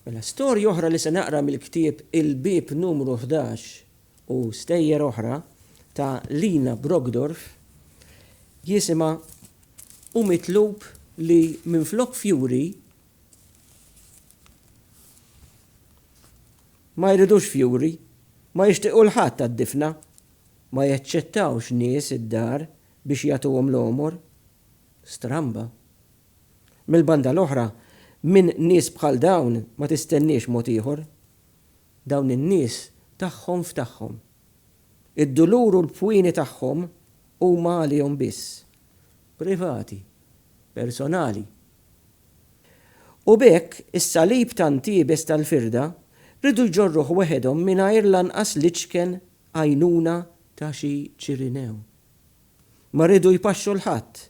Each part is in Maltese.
Mela storja oħra li se naqra mill-ktieb Il-Bieb Numru 11 u stejjer oħra ta' Lina Brockdorf jisimha Hu mitlub li minflok fjuri ma jridux fjuri, ma jixtiequ l-ħadd għad-difna, ma jaċċettawx nies id-dar biex jagħtuhom l-għomor. stramba. Mill-banda l-oħra, minn nies bħal dawn ma tistenniex mod ieħor. Dawn in-nies tagħhom f'tagħhom. Id-dulur u l-pwieni tagħhom huma għalihom biss. Privati. Personali. U b'hekk, is-salib tant iebes tal-firda riedu jġorruh weħedhom mingħajr lanqas l-iċken għajnuna ta' xi Ċirinew. Ma riedu jpaxxu 'l ħadd.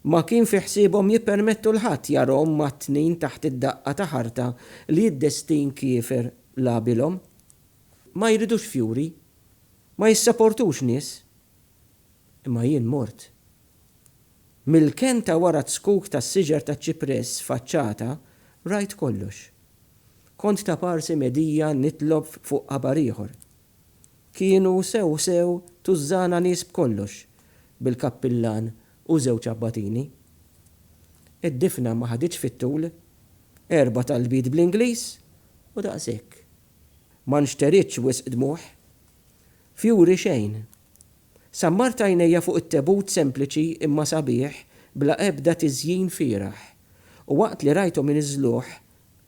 Ma kien fi ħsiebhom jippermettu 'l ħadd jarahom mgħattnin taħt id-daqqa ta' ħarta li d-destin kiefer lagħbilhom. Ma jridux fjuri. Ma jissaportux nies. Imma jien mort. Mill-kenta wara t-zkuk tas-siġar taċ-ċipress faċċata rajt kollox. Kont ta' parsi medija nitlob fuq qabar ieħor. Kienu sew sew tużżana nies b'kollox, bil-kappillan u żewġ abbatini. Id-difna ma ħaditx fit-tul, erba' talbiet bl-Ingliż u daqshekk. Ma nxteritx wisq dmugħ. Fjuri xejn. Sammart għajnejja fuq it-tebut sempliċi imma sabiħ bla ebda tiżjin fieragħ u waqt li rajthom iniżżluh,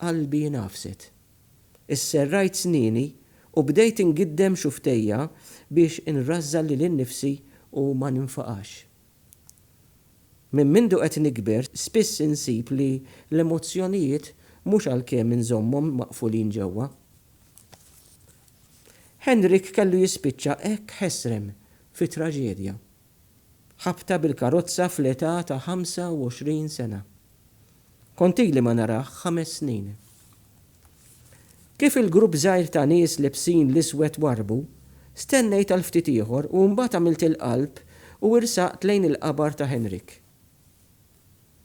qalbi ngħafset. Isserrajt snieni u bdejt ingiddem xufftejja biex inrażżan lili nnifsi u ma ninfaqax. Minn mindu qed nikber spiss insib li l-emozzjonijiet mhux għalkemm inżommhom maqfulin ġewwa. Henrik kellu jispiċċa hekk ħesrem fi traġedja. Ħabta bil-karozza fl-età ta' 25 sena. Kont ili ma narah ħames snin. Kif il-grupp żgħir ta' nies libsin l-iswed warrbu, stennejt għal ftit ieħor u mbagħad għamilt il-qalb u irsaqt lejn il-qabar ta' Henryk.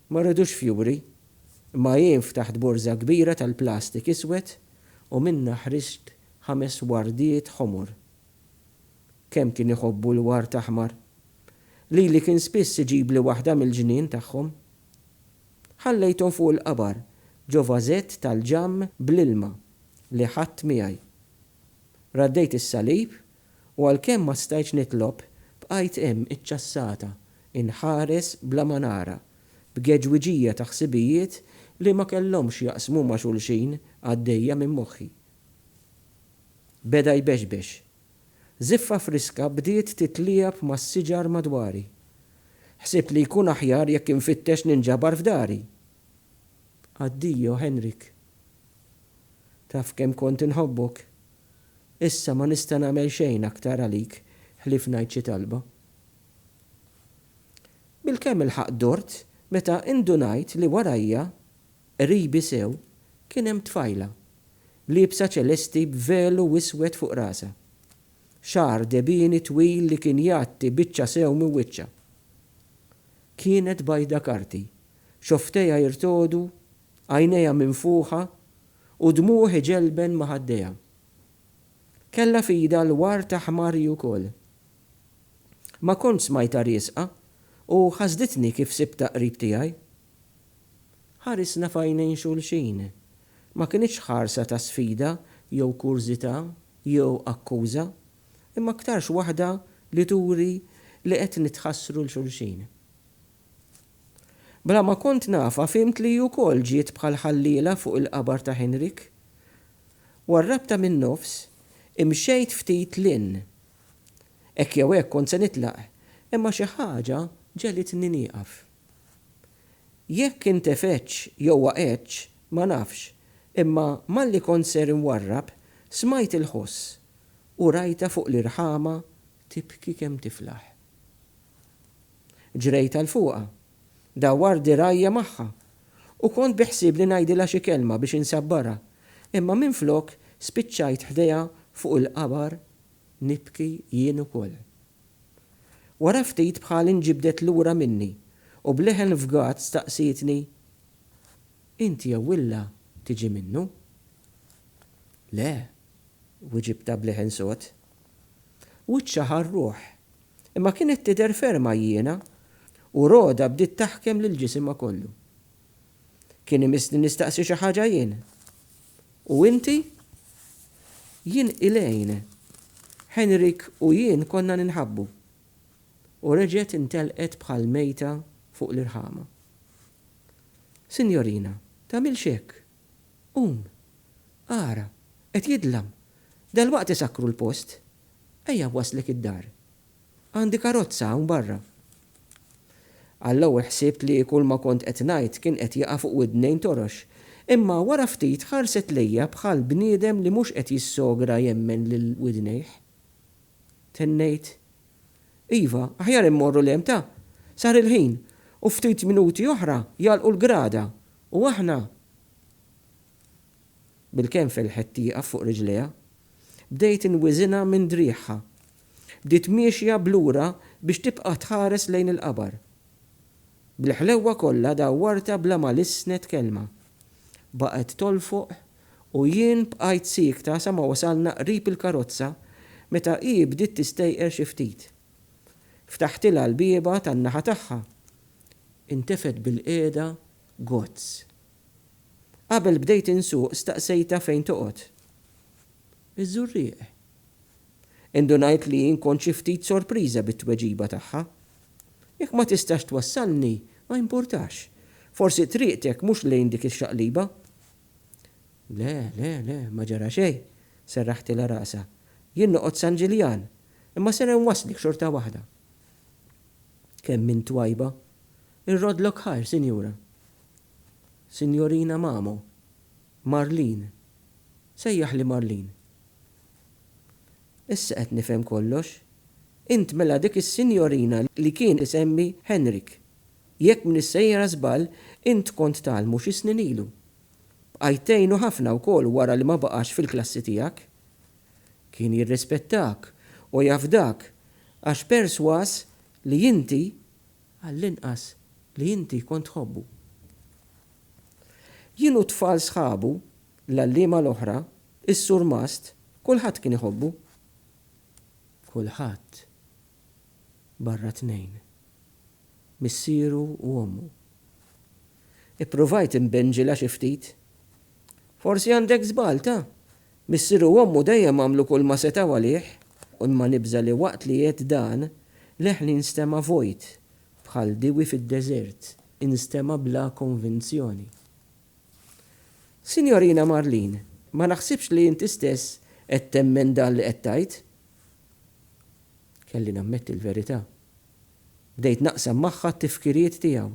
Ma rridux fjuri, imma jien ftaħt borża kbira tal-plastik iswed u minnha ħriġt ħames wardiet ħomor. Kemm kien iħobbu l-ward aħmar! Lili kien spiss iġibli waħda mill-ġnien tagħhom. Ħallejthom fuq il-qabar ġo vażett tal-ġamm bl-ilma li ħadt miegħi. Raddejt is-salib u għalkemm ma stajtx nitlob, bqajt hemm iċċassata, inħares bla ma nara, b'geġwiġija ta' ħsibijiet li ma kellhomx x'jaqsmu ma' xulxin għaddejja minn moħħi. Beda jbexbex. Żiffa friska bdiet titliegħeb mas-siġar madwari. Ħsibt li jkun aħjar jekk infittex ninġabar f'dari. Addio, Henrik. Taf kemm kont inħobbok. Issa ma nista' nagħmel xejn aktar għalik ħlief ngħid xi talba. Bilkemm ilħaqt dort meta indunajt li warajja, qribi sew, kien hemm tfajla liebsa ċelesti b'velu iswed fuq rasha. Xagħar debieni twil li kien jgħatti biċċa sew minn wiċċha. Kienet bajda karti, xofftejha jirtogħdu, għajnejha minfuħa u dmugħ iġelben ma' ħaddejha. Kellha f'idha l-ward ta' ħmari wkoll. Ma kontx smajtha riesqa u ħasditni kif sibtha qrib tiegħi. Ħarisna f'għajnejn xulxin Ma kinitx ħarsa ta' sfida jew kurżità jew akkuża, imma aktarx waħda li turi li qed nitħassru 'l xulxin. Bla ma kont nafha fhimt li hi wkoll ġiet bħal ħalliela fuq il-qabar ta' Henrik. Warrabtha min-nofs, imxejt ftit 'l hinn. Hekk jew hekk kont se nitlaq, imma xi ħaġa ġegħlitni nieqaf. Jekk intefgħetx jew waqgħetx, ma nafx, imma malli kont ser inwarrab, smajt il-ħoss u rajtha fuq l-irħama tibki kemm tiflaħ. Ġrejt għal fuqha, dawwart dirgħajja magħha u kont biħsiebli ngħidilha xi kelma biex insabbarha, imma minflok spiċċajt ħdejha fuq il-qabar nibki jien ukoll. Wara ftit bħal inġibdet lura minni u b'leħen fgat staqsietni, Int jew illa tiġi minnu? Le, wiġibtha b'leħen sod. Wiċċha ħa r-ruħ, imma kienet tidher ferm għajjiena u Rhoda bdiet taħkem lil ġisimha kollu. Kien imissni nistaqsi xi ħaġa jien. U inti? Jien Elaine. Henrik u jien konna ninħabbu. U reġgħet intelqet bħal mejta fuq l-irħama. Sinjorina, tagħmilx hekk! Qum! Ara! Qed jidlam! Dalwaqt isakkru l-post! Ejja nwasslek id-dar! Għandi karozza hawn barra. Għall-ewwel ħsibt li kulma kont qed ngħid kien qed jaqa' fuq widnejn torox, imma wara ftit ħarset lejja bħal bniedem li mhux qed jissogra jemmen lil widnejh. Tennejt, Iva, aħjar immorru 'l hemm ta! Sar il-ħin, u ftit minuti oħra jagħlqu l-grada, u aħna. Bil-kenfel ħedt tieqaf fuq riġlejha. Bdejt inwiżinha minn driegħha. bdiet miexja b'lura biex tibqa' tħares lejn il-qabar. Bl-ħlewwa kollha dawwartha bla ma lissnet kelma. Baqgħet tolfoq u jien bqajt siekta sa ma wasalna qrib il-karozza meta hi bdiet tistejqer xi ftit. Ftaħtilha l-bieba tan-naħa tagħha. Intefgħet bilqiegħda gozz. Qabel bdejt insuq staqsejtha fejn toqgħod. Iż-Żurrieq. Indunajt li nkun xi ftit sorpriża bit-tweġiba tagħha. Jekk ma tistax twassalni, ma jimpurtax. Forsi triqtek mhux lejn dik ix-xaqliba. Le, le, le, ma ġara xejn, serraħtilha rasha. Jien noqgħod San Ġiljan, imma ser inwasslek xorta waħda. Kemm int twajba. Irroddlok ħajr, sinjura. Sinjorina Mamo. Marlene. Sejjaħli Marlene. Issa qed nifhem kollox. Int mela dik is-sinjorina li kien isemmi Henrik. Jekk m'iniex sejra żball, int kont tgħallmu xi snin ilu. Bqajt tgħinu ħafna wkoll wara li ma baqax fil-klassi tiegħek. Kien jirrispettak u jafdak għax persważ li inti għall-inqas, li inti kont tħobbu. Jien u t-tfal sħabu, l-għalliema l-oħra, is-surmast, kulħadd kien iħobbu. Kulħadd, barra tnejn, missieru u ommu. Ippruvajt inbinġilha xi ftit. Forsi għandek żball ta', Missieru u ommu dejjem għamlu kulma setgħu għalih u ma nibża' li waqt li għedt dan, leħni nstema' vojt, bħal diewi fid-deżert, instema' bla konvinzjoni. Sinjorina Marlene, ma naħsibx li inti stess qed temmen dan li qed tgħid. Kelli nammetti l-verità. Bdejt naqsam magħha t-tifkiriet tiegħu.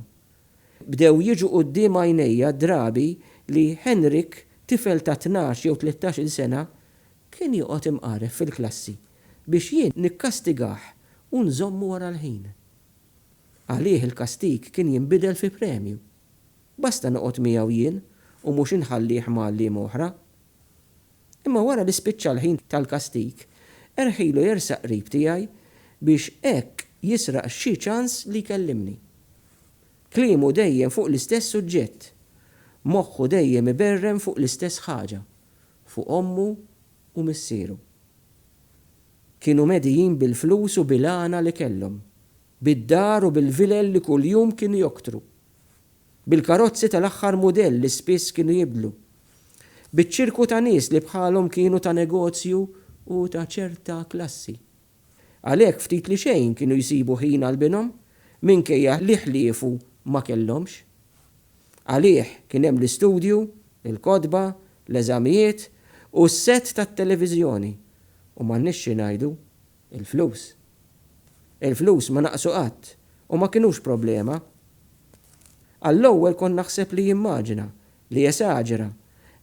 Bdew jiġu quddiem għajnejja d-drabi li Henrik, tifel ta' tnax jew tlettax-il sena, kien joqgħod imqaref fil-klassi biex jien nikkastigah u nżommu wara l-ħin. Għalih il-kastig kien jinbidel fi premju. Basta noqgħod miegħu jien u mhux inħallih ma' għalliema oħra. Imma wara li spiċċa l-ħin tal-kastig, erħilu jersaq qrib tiegħi biex hekk jisraq xi ċans li jkellimni. Kliemu dejjem fuq l-istess suġġett. Moħħu dejjem iberren fuq l-istess ħaġa, fuq ommu u missieru. Kienu medijin bil-flus u bil-għana li kellhom, bid-dar u bil-vilel li kuljum kienu joktru. bil-karozzi tal-aħħar mudell li spiss kienu jibdlu, biċ-ċirku ta' nies li bħalhom kienu ta' negozju u ta' ċerta klassi. Għalhekk ftit li xejn kienu jsibu ħin għal binhom, minkejja li ħliefu ma kellhomx. Għalih kien hemm l-istudju, il-kotba, l-eżamijiet u s-sett tat-televiżjoni, u m'għandniex xi ngħidu, Il-flus. Il-flus ma naqsu qatt u ma kinux problema. Għall-ewwel kont naħseb li jimmaġina, li jesaġera,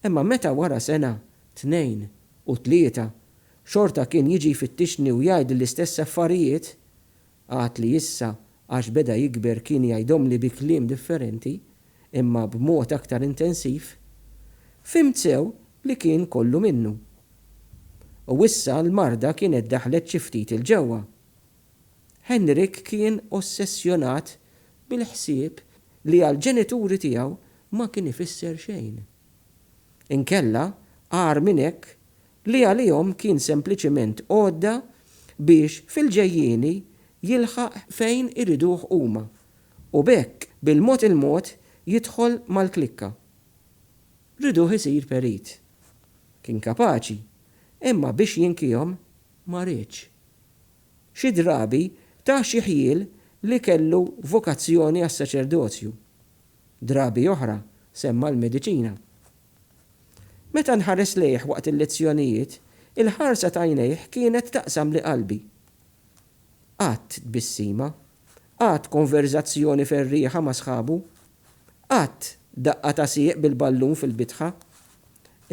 imma meta wara sena, tnejn, u tlieta, xorta kien jiġi jfittixni u jgħidli l-istess affarijiet, għad li issa għax beda jikber kien jgħidhomli bi kliem differenti, imma b'mod aktar intensiv, fhimt sew li kien kollu minnu. U issa l-marda kienet daħlet xi ftit 'il ġewwa. Henryk kien ossessjonat bil-ħsieb li għall-ġenituri tiegħu ma kien ifisser xejn. Inkella, agħar minn hekk, li għalihom kien sempliċiment għodda biex fil-ġejjieni jilħaq fejn iriduh huma, U b'hekk bil-mod il-mod jidħol mal-klikka. Riduh isir perit. Kien kapaċi, imma biex jinkihom ma riedx. Xi drabi ta xi ħjiel li kellu vokazzjoni għas-saċerdozju. Drabi oħra semma l-mediċina. Meta nħares lejh waqt il-lezzjonijiet, il-ħarsa t'għajnejh kienet taqsamli qalbi. Qatt tbissima Qatt konverżazzjoni ferrieħa ma' sħabu. Qatt daqqa ta' sieq bil-ballun fil-bitħa.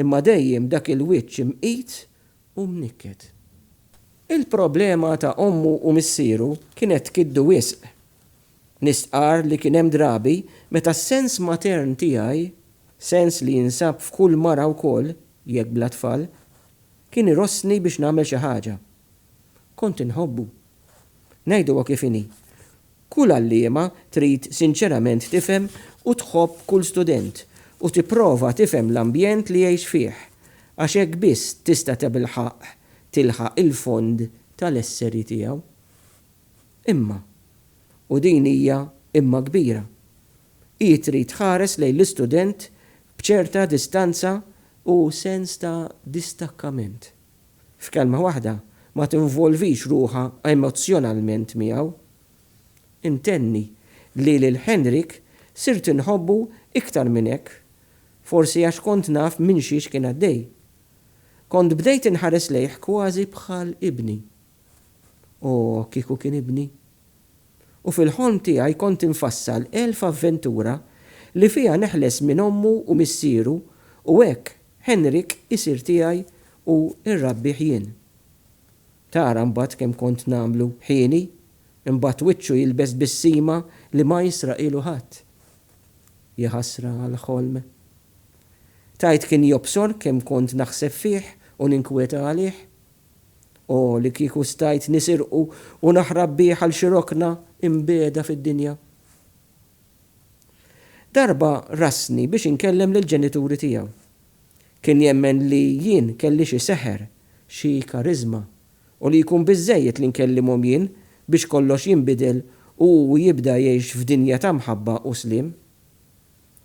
Imma dejjem dak il-wiċċ imqit u mnikket. Il-problema ta' ommu u missieru kienet tkiddu wisq. Nistqarr li kien hemm drabi meta s-sens matern tiegħi, sens li jinsab f'kull mara wkoll jekk bla tfal, kien irossni biex nagħmel xi ħaġa. Kont inħobbu. Ngħiduha kif inhi, kull għalliema trid sinċerament tifhem u tħobb kull student u tipprova tifhem l-ambjent li jgħix fih, għax hekk biss tista' tabilħaqq tilħaq il-fond tal-esseri tiegħu. Imma, u din hija imma kbira, hi trid tħares lejn l-istudent b'ċerta distanza u sens ta' distakkament. F'kelma waħda, ma tinvolvix ruħha emozzjonalment miegħu. Intenni li lil Henrik sirt inħobbu iktar minn hekk, forsi għax kont naf minn xiex kien għaddej. Kont bdejt inħares lejh kważi bħal ibni. O, kieku kien ibni! U fil-ħolm tiegħi kont infassal elf avventura li fiha neħles minn ommu u missieru u hekk Henrik isir tiegħi u rrabbih jien. Tara mbagħad kemm kont nagħmlu ħini, imbagħad wiċċu jilbes bissima li ma jisraqilu ħadd. Jaħasra għall-ħolm. Tgħid kien jobsor kemm kont naħseb fih u ninkweta għalih? O li kieku stajt nisirqu u naħrab bih għal xi rokna imbiegħda fid-dinja. Darba rasni biex inkellem lill-ġenituri tiegħu. Kien jemmen li jien kelli xi seħer, xi kariżma, u li jkun biżżejjed li nkellimhom jien biex kollox jinbidel u hu jibda jgħix f'dinja ta' mħabba u sliem.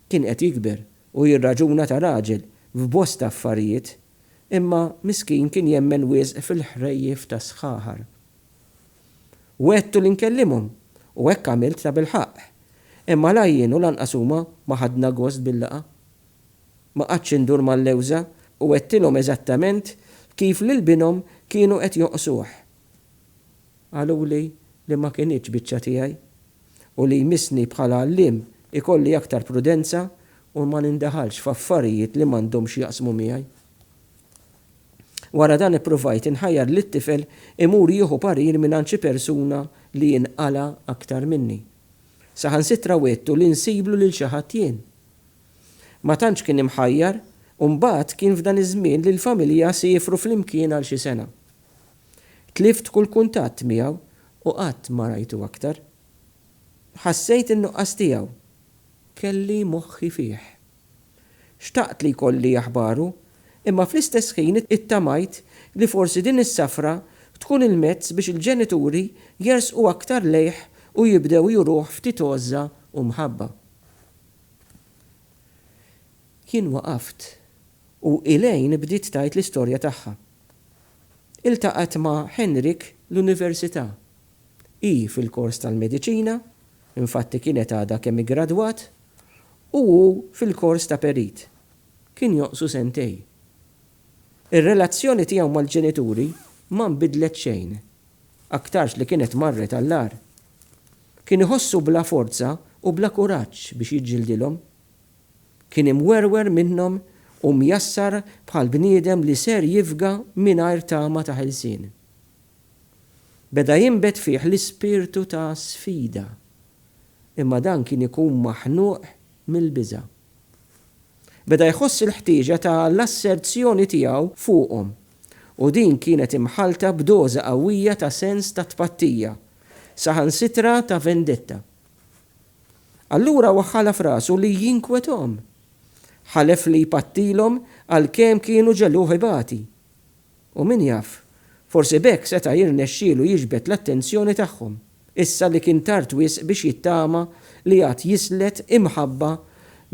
Kien qed jikber u jirraġuna ta' raġel f'bosta affarijiet, imma miskin kien jemmen wisq fil-ħrejjef tas-sħaħar. Wegħdtu li nkellimhom, u hekk għamilt tabilħaqq. Imma la jien u lanqas huma ma ħadna gost bil-laqgħa. Ma qgħadtx indur mal-lewża u għedtilhom eżattament kif lil binhom kienu qed jonqsuh. Qaluli li ma kinitx biċċa tiegħi u li jmissni bħala għalliem ikolli aktar prudenza u ma nindaħalx f'affarijiet li m'għandhomx jaqsmu miegħi. Wara dan ippruvajt inħajjar lit-tifel imur jieħu parir mingħand xi persuna li jien qala aktar minni. Saħansitra wegħdtu li nsiblu lil xi ħadd jien. Ma tantx kien imħajjar u mbagħad kien f'dan iż-żmien li l-familja siefru flimkien għal xi sena. Tlift kull kuntatt miegħu u qatt ma rajtu aktar. Ħassejt in-nuqqas tiegħu. Kelli moħħi fih. Xtaqt li jkolli aħbaru, imma fl-istess ħin ittamajt li forsi din is-safra tkun il-mezz biex il-ġenituri jersqu aktar lejh u jibdew juruh ftit għożża u mħabba. Jien waqaft u Elaine bdiet tgħid l-istorja tagħha. Iltaqgħet ma' Henrik l-università. Hi fil-kors tal-mediċina, infatti kienet għadha kemm iggradwat, u hu fil-kors ta' perit, kien jonqsu sentej. Ir-relazzjoni tiegħu mal-ġenituri ma nbidlet xejn, aktarx li kienet marret għall-agħar. Kien iħossu bla forza u bla kuraġġ biex jiġġildilhom. Kien imwerwer minnhom u mjassar bħal bniedem li ser jifga mingħajr tama ta' ħelsien. Beda jinbet fih l-ispirtu ta' sfida, imma dan kien ikun maħnuq mill-biża'. Beda jħoss il-ħtieġa ta' l-asserzjoni tiegħu fuqhom, u din kienet imħallta b'doża qawwija ta' sens ta' tpattija, saħansitra ta' vendetta. Allura hu ħala f'rasu li jinkwethom. Ħalef li jpattilhom għalkemm kienu ġegħluh ibati. U min jaf, forsi b'hekk seta' jirnexxielu jiġbed l-attenzjoni tagħhom, issa li kien tard wisq biex jittama li għad jislet imħabba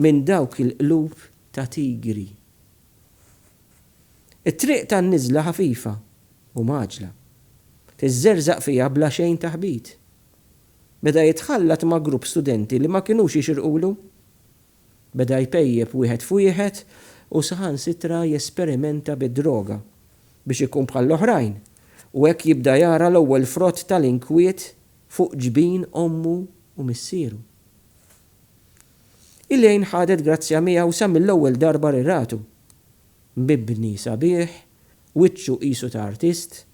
minn dawk il-qlub ta' tigri. It-triq tan-niżla ħafifa u mgħaġġla. Tiżżerżaq fiha bla xejn taħbit. Beda jitħallat ma' grupp studenti li ma kinux jixirqulu. Beda jpejjep wieħed f'wieħed u saħansitra jesperimenta bid-droga biex ikun bħall-oħrajn u hekk jibda jara l-ewwel frott tal-inkwiet fuq ġbin ommu u missieru. Elaine ħadet grazzja miegħu sa mill-ewwel darba li ratu. Mibni sabiħ, wiċċu qisu ta' artist,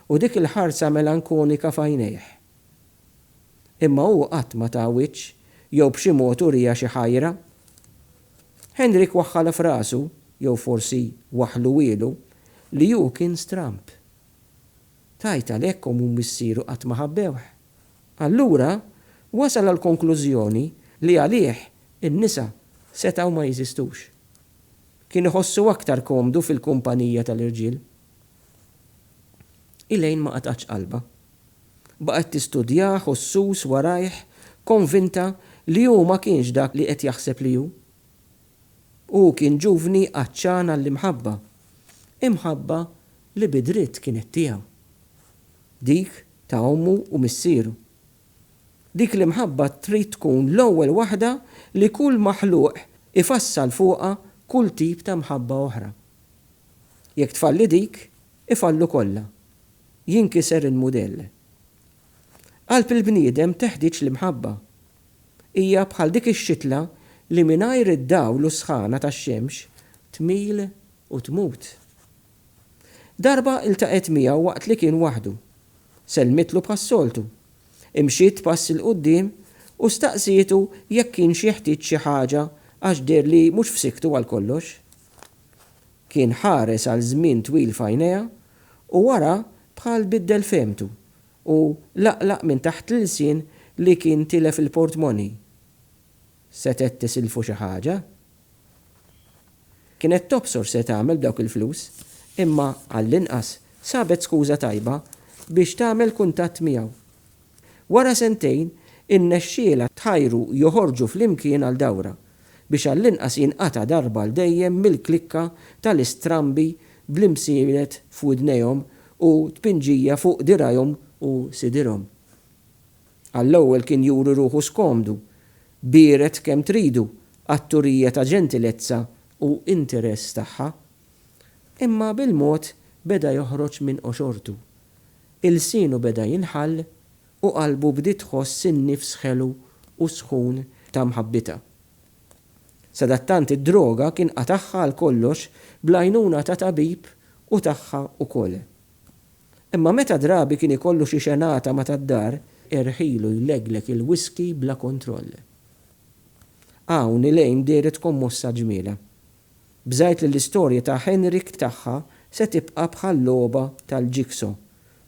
u dik il-ħarsa melankonika f'għajnejh, Imma hu qatt ma ta wiċċ jew b'xi mod uriha xi ħajra. Henrik waħħalha f'rasu, jew forsi waħħluhielu, li hu kien stramb. Tgħid għalhekk omm u missieru qatt ma ħabbewh. Allura wasal għall-konklużjoni li għalih in-nisa setgħu ma jeżistux. Kien iħossu aktar komdu fil-kumpanija tal-irġiel. Elaine ma qatgħatx qalbha. Baqgħet tistudjah u ssus warajh, konvinta li hu ma kienx dak li qed jaħseb li hu. Hu kien ġuvni għatxan għall-imħabba, imħabba li bi dritt kienet tiegħu. Dik ta' ommu u missieru. Dik l-imħabba trid tkun l-ewwel waħda li kull maħluq ifassal fuqha kull tip ta' mħabba oħra. Jekk tfalli dik, Ifallu kollha. Jinkiser il-mudell. Qalb il-bniedem teħtieġ l-imħabba. Hija bħal dik ix-xitla li mingħajr id-dawl u s-sħana tax-xemx tmil u tmut. Darba ltaqgħet miegħu waqt li kien waħdu. Sellmitlu bħas-soltu. Imxiet pass 'il quddiem u staqsietu jekk kienx jeħtieġ xi ħaġa għax deher li mhux f'sikktu għal kollox. Kien ħares għal żmien twil f'għajnejha u wara bħal biddel fehmtu u laqlaq minn taħt l-ilsien li kien tilef il-portmoney. Setgħet tisilfu xi ħaġa? Kienet tobsor se tagħmel b'dawk il-flus, imma għallinqas sabet skuża tajba biex tagħmel kuntatt miegħu. Wara sentejn, irnexxielha tħajru joħorġu flimkien għal dawra, biex għall-inqas jinqata' darba għal dejjem mill-klikka tal-istrambi bl-imsielet f'widnejhom u tpinġija fuq dirgħajhom u sidirhom. Għall-ewwel kien juri ruħu skomdu, biered kemm tridu għat-turija ta' ġentilezza u interess tagħha. Imma bil-mod beda joħroġ minn qoxortu. Ilsienu beda jinħall u qalbu bdiet tħoss in-nifs ħelu u sħun ta' mħabbitha. Sadattant id-droga kien qatagħha għal kollox bl-għajnuna ta' tabib u tagħha ukoll. Imma meta drabi kien ikollu xi xenata ma' tad-dar, erħielu jlegleg il-whiskey bla kontroll. Hawn Elaine dehret kommossa ġmielha. Bżajt li l-istorja ta' Henrik tagħha se tibqa' bħal logħba tal-jigsaw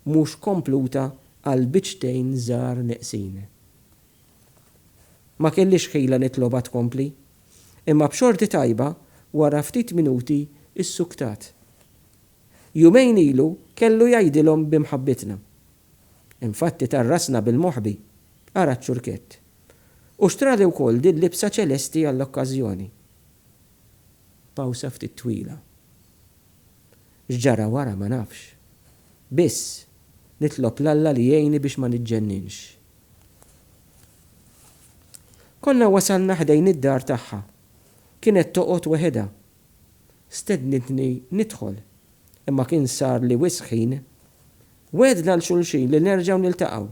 mhux kompluta għal biċċtejn żgħar neqsin. Ma kellix ħila nitlobha tkompli, imma b'xorti tajba wara ftit minuti ssuktat. Jumejn ilu kellu jgħidilhom bi mħabbitna. Infatti ta rasna bil-moħbi, ara ċ-ċurkett. U xtrali wkoll din libsa ċelesti għall-okkażjoni. Pawsa ftit twila. X'ġara wara ma nafx. Biss, nitlob 'l Alla li jgħinni biex ma niġġenninx. Konna wasalna ħdejn id-dar tagħha. Kienet toqgħod weħidha. Stednitni nidħol, imma kien sarli wisq ħin. Wegħdna 'l xulxin li nerġgħu niltaqgħu,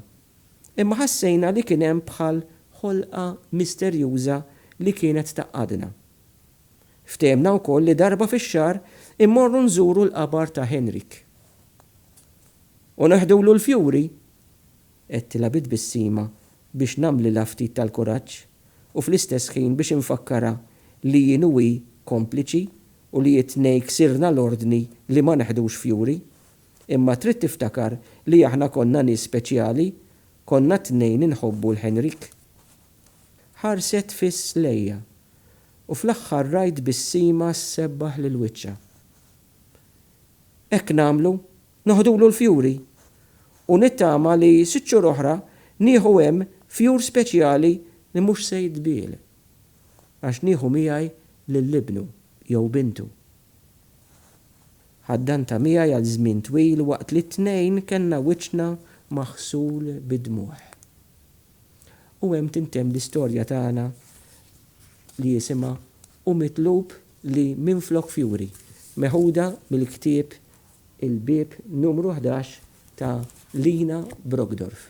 imma ħassejna li kien hemm bħal ħolqa misterjuża li kienet tgħaqqadna. Ftehemna wkoll li darba fix-xahar immorru nżuru l-qabar ta' Henryk. U neħdulu l-fjuri? għedtilha bi tbissima biex nagħmlilha ftit tal-kuraġġ u fl-istess ħin biex infakkarha li jien u hi kompliċi u li t-tnejn ksirna l-ordni li ma neħdux fjuri. Imma trid tiftakar li aħna konna nies speċjali, konna t-tnejn inħobbu 'l Henrik. Ħarset fiss lejja, u fl-aħħar rajt bissima ssebbaħ lil wiċċha. Hekk nagħmlu, noħdulu l-fjuri, u nittama li sitt xhur oħra nieħu hemm fjur speċjali li mhux se jitbiegħ, għax nieħu miegħi lil ibnu jew bintu. Ħaddantha miegħi għal żmien twil waqt li t-tnejn kellna wiċċna maħsul bid-dmugħ. U hemm tintemm l-istorja tagħna li jisimha Hu Mitlub li Minflok Fjuri, meħuda mill-ktieb Il-Bieb Numru Ħdax ta' Lina Brockdorff.